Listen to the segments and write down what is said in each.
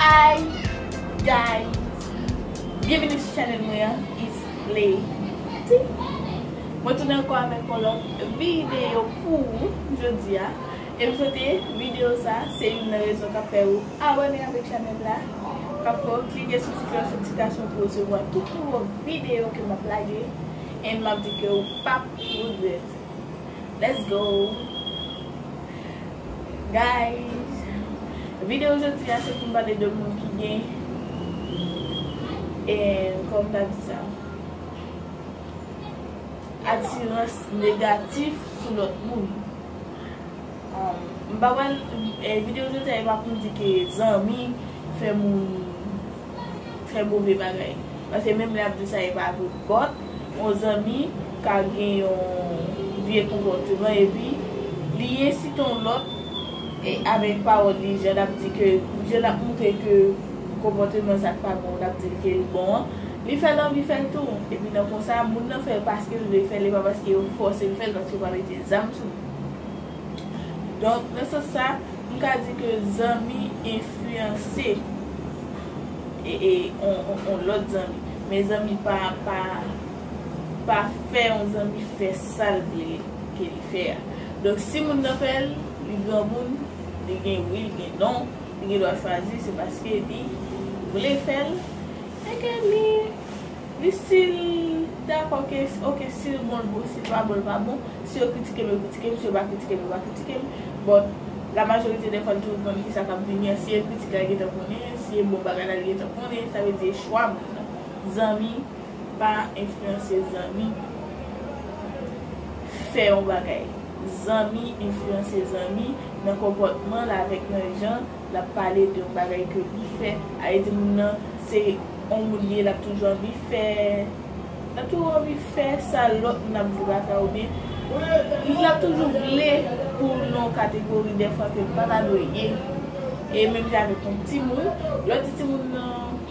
Hi guys Byenvini sou chanel mwen an It's Lady Mwen tounen anko avèk yon lòt videyo pou ou jodi a E m swete videyo sa se youn nan rezon kap fè ou abone avèk chanel la Kap fè ou klike sou ti klòch notifikasyon pou resevwa tout nouvo videyo ke map lage And map di ke ou pap regrèt Let's go! Guys Video jodi a se poum pale de moun ki gen en kòm ta di sa Atirans negatif sou lòt moun M pa pral Video jodi a e pa poum di ke zanmi fè moun fè move bagay Paske menm lè yap di sa e pa vre But Yon zanmi ka gen yon vye konpòteman epi li ensite yon lòt e avèk pawòl li jan lap di ke jan lap moutre ke konpòteman sa pa bon lap dil ke li bon an li fèl anvi fèl tou epi nan konsa moun nan fèl paskel vle fèl e pa paske yo fòsel fèl paske yo pa mete zam sou li donk nan sans sa m ka di ke zanmi enfliyanse. on lòt zanmi mezanmi pa pa pa fè yon zanmi fè sal vle ke li fè a donk si moun nan fèl li granmoun li gen wi li gen non li gen dwa chwazi se paske li vle fèl e ke li Li sil dakò ke ok sil bon l bon sil pa bon l pa bon si yo kritike m yo kritike m si yo pa kritike m yo pa kritike m but la majorite dè fwa l toujou konnen kisa kap vini an si e kritik la li gentan konnen si e bon bagay la li gentan konnen sa vle di e chwa moun nan zanmi pa enfliyanse zanmi fè yon bagay zanmi enfliyanse zanmi nan konpòtman l avèk nan jan Lap pale de yon bagay ke li fè, ale di moun nan se yon moun li ye lap toujou anvi fè, lap toujou anvi fè sa lòt moun ap viv avè ou byen moun nan toujou vle pou w nan yon kategori dèfwa ke l pa ta dwe ye. E menm jan avèk yon timoun, lè w di timoun nan.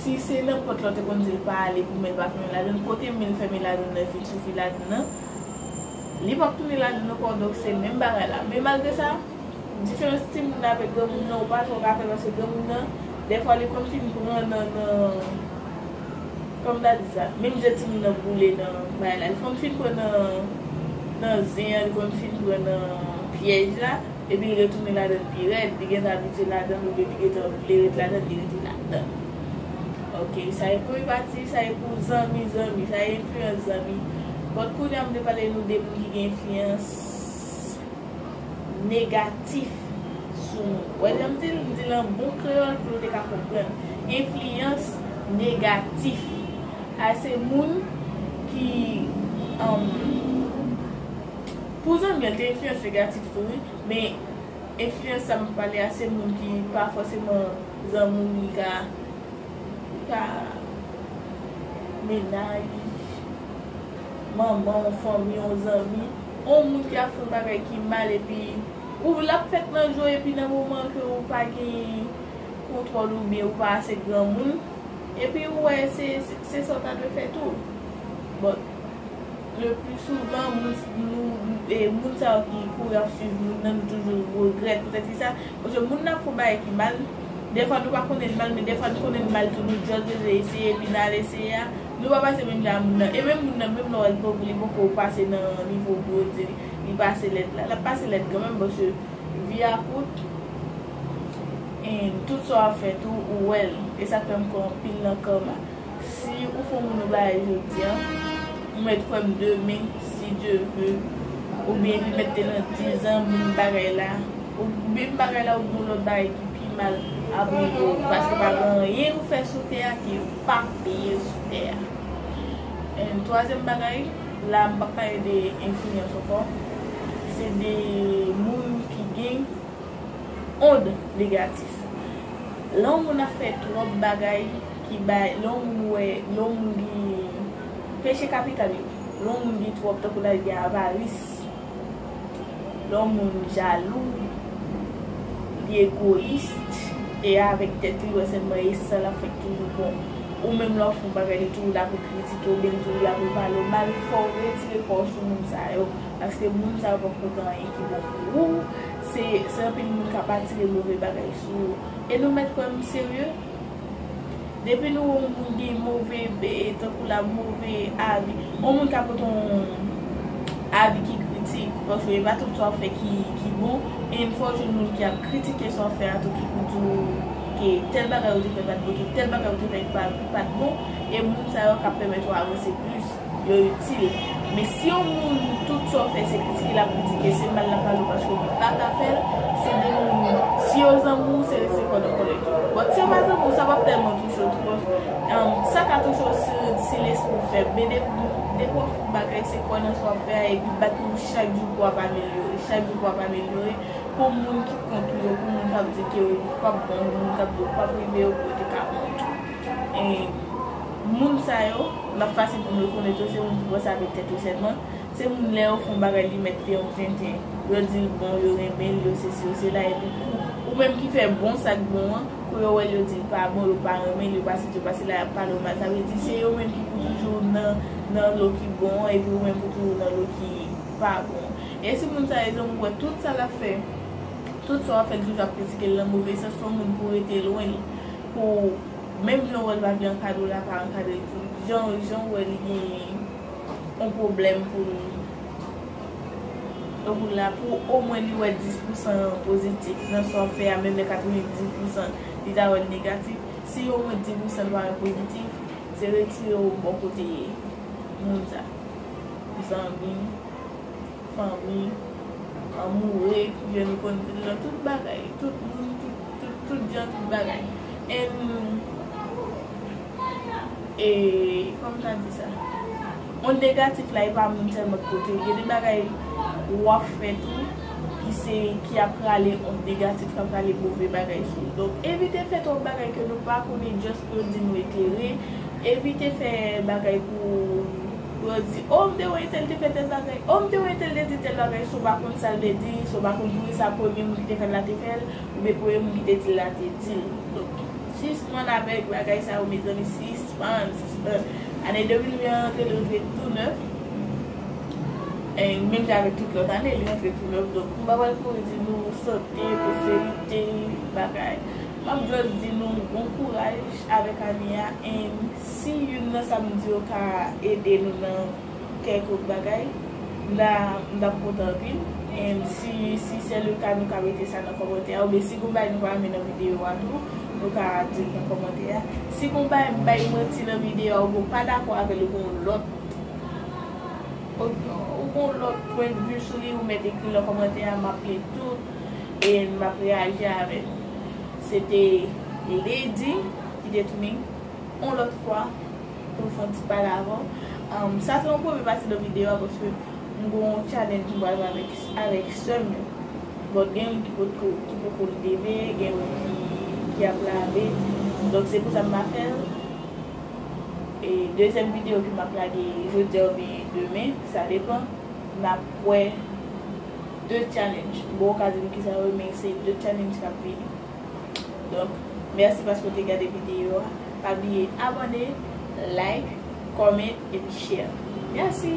Si se nan pòt la ou te konn di l pa ale pou men l pa fèmen ladann, kote men l fèmen ladann nan vin sou fi ladann nan, li p ap tounen ladann ankò donk se menm bagay la. Men malgre sa, diferans timoun nan avèk granmoun nan ou pa twò ka fè paske granmoun nan dèfwa li konn fin pran nan kòman m ta di sa menm je timoun nan boule nan bagay la li konn fin pran nan zen an li konn fin pran nan pyèj la. Epi li retounen ladann pi rèd, li gentan abitye ladann oubyen li gentan vle ret ladann, li rete ladann. Ok, sa e premye pati, sa e pou zanmi, zanmi, sa e enfliyans zanmi. But kounye a m vle pale nou de moun ki gen enfliyans negatif sou nou. Ou wè jan m di l, m di l an bon kreyòl pou nou te ka konprann. Enfliyans negatif. A se moun ki. Pou zanmi an te enfliyans negatif tou wi, men enfliyans sa map pale a se moun ki pa fòseman zanmi w li ka li ka mennaj li, manman w, fanmi w, zanmi, on moun ki ap fè yon bagay ki mal epi ou lap fèt nan je w epi nan moman ke ou pa gen kontwòl ou byen ou pa ase granmoun epi ou wè se se sa w ta dwe fè tou bon. Le plus souvent moun sa yo ki kouri ap swiv moun nan nou toujou regrèt pou tèt ki sa, paske moun nan ap fon bagay ki mal, dèfwa nou pa konnen li mal men dèfwa nou konnen li mal tou nou just bezwen eseye epi nan al eseye a nou pa pase menm jan a moun nan e menm moun nan menm lè wè li poko li poko pase nan nivo pou yo di li pase lèd la lap pase lèd kanmenm paske vi a kout and tout sa wap fè tou ou wèl e sak fè m kwè anpil nan karma. Si ou fon moun ou bagay jodia, ou mèt kwèm demen si Dye ve, oubyen li mèt te nan dizan menm bagay la, ou menm bagay la oubyen yon lòt bagay ki pi mal ap rive ou paske pa gen anyen ou fè sou tè a ke yo pa peye sou tè a. And twazyèm bagay, la m pap pale de enfliyans ankò, se de moun ki gen ond negatif. Lè yon moun ap fè twòp bagay. ki bay lè yon moun wè lè yon moun gin peche kapital yo lè yon moun gin twòp tankou lè gen avaris lè yon moun jalou li egoyis e avèk tèt li wè sèlman e sa lap fè ki toujou bon ou menm lè wap fè yon bagay li toujou la pou kritike oubyen li toujou la pou pale w mal fòw retire kòw sou moun sa yo paske moun sa yo pap pote anyen ki bon pou ou se anpil moun kap atire move bagay sou ou e nou mèt kwè m serye. Depi nou wè yon moun gen move tankou la move avi, yon moun ka pote yon avi ki kritik, paske e pa tout sa ou fè ki bon, e m fè w jwenn moun ki ap kritike sa w fè a tou ki pou di w ke tèl bagay ou te fè pat bon, ke tèl bagay ou te fè ki pat bon, e moun sa yo kap pèmèt ou avanse plis. Yo itil. Men si yon moun tout sa w fè se kritike lap kritike, se mal lap pale w paske li paka fè l, se de moun si yo zanmi w se rete kòd an kòlèt. But si yo pa zanmi w sa pap tèlman touche w twòp. Sa ka touche w si se lespri w fèb. Men depi wap fout bagay se kwè nan sa wap fè a epi bat menm chak jou pou wap amelyore, chak jou pou wap amelyore pou moun ki kont ou yo, pou moun kap di ke ou pap bon, pou moun kap di ou pap rive yo pou yo te ka kont ou. Moun sa yo, l ap fasil pou m rekonèt yo, se moun ki panse avèk tèt yo sèlman, se moun lè yo fè yon bagay li mèt fè yon tenten, yo di l bon, yo renmen l, yo sesi, yo sela, epi kou ou menm ki fè bon sa k bon an, kou yo wè l yo di l pa bon, yo pa renmen l, yo pa sesi, yo pa sela, y ap pale w mal. Sa vle di se yo menm ki pou toujou nan lo ki bon an epi ou menm pou toujou nan lo ki pa bon an. E si moun sa yo janm ou wè tout sa l ap fè, tout sa w ap fè li toujou ap kritike l nan move sans, s on moun pou w rete lwen l. Pou menm jan ou wè l pa byen ankadre ou la pa ankadre l tou jan jan ou wè li genyen yon pwoblèm pou l pou l la pou omwen li wè 10 pousan pozitif nan sa w fè a menm lè 90 pousan li ta wè l negatif si omwen 10 pousan l pa wè pozitif se retire ou bò kote moun sa zanmi fanmi anmoure jèn ou konn di l nan tout bagay tout moun tout Tout jan tout bagay and kòman ta di sa on negatif la epa moun sèlman ki pote gen de bagay wap fè tou ki se ki ap rale on negatif kap rale move bagay sou ou donk evite fè twòp bagay ke nou pa konnen just pou yo di nou eklere evite fè bagay pou pou yo di oh m te wè entèl te fè tèl bagay oh m te wè entèl te di tèl bagay si w pa konn sa l te di si w pa konn poukisa premye moun ki te fè l la te fè l. Oubyen premye moun ki te dil la te dil. Donk sispann avèk bagay sa yo mezanmi sispann sispann ane 2020 an rantre li rantre tou nèf en menm jan avèk tout lòt ane li rantre tou nèf donk m pa pral kouri di nou sante pwosperite bagay map just di nou bon kouraj avèk ane a en si youn nan sa m di yo ka ede nou nan kèk lòt bagay, m ta m tap kontan anpil and si si se le ka nou ka mete sa nan kòmantè a ou byen si gon bagay nou pa renmen nan video a tou nou ka dil nan kòmantè a si gon bagay m bay manti nan video a ou byen ou pa dakò avèl ou gen yon lòt ou gen yon lòt pwen de vue sou li ou mèt ekril nan kòmantè a map li tout and map reyaji avè nou se te Lady ki te tounin yon lòt fwa. Pou m fè yon ti pale avè w. Sa se yon premye pati nan videyo a paske m gen yon challenge m pral fè avèk sè m yo. Bon gen youn ki potko ki poko leve, gen youn ki ap lave. Donk se pou sa m pa fè l. E dezyèm videyo ke m ap lage jodi a oubyen demen, sa depan. N ap wè 2 challenge. M poko ka di nou kisa yo ye men se 2 challenge k ap vini. Donk mèsi paske ou te gade videyo a. Pa bliye abone, like, comment epi share. Mèsi!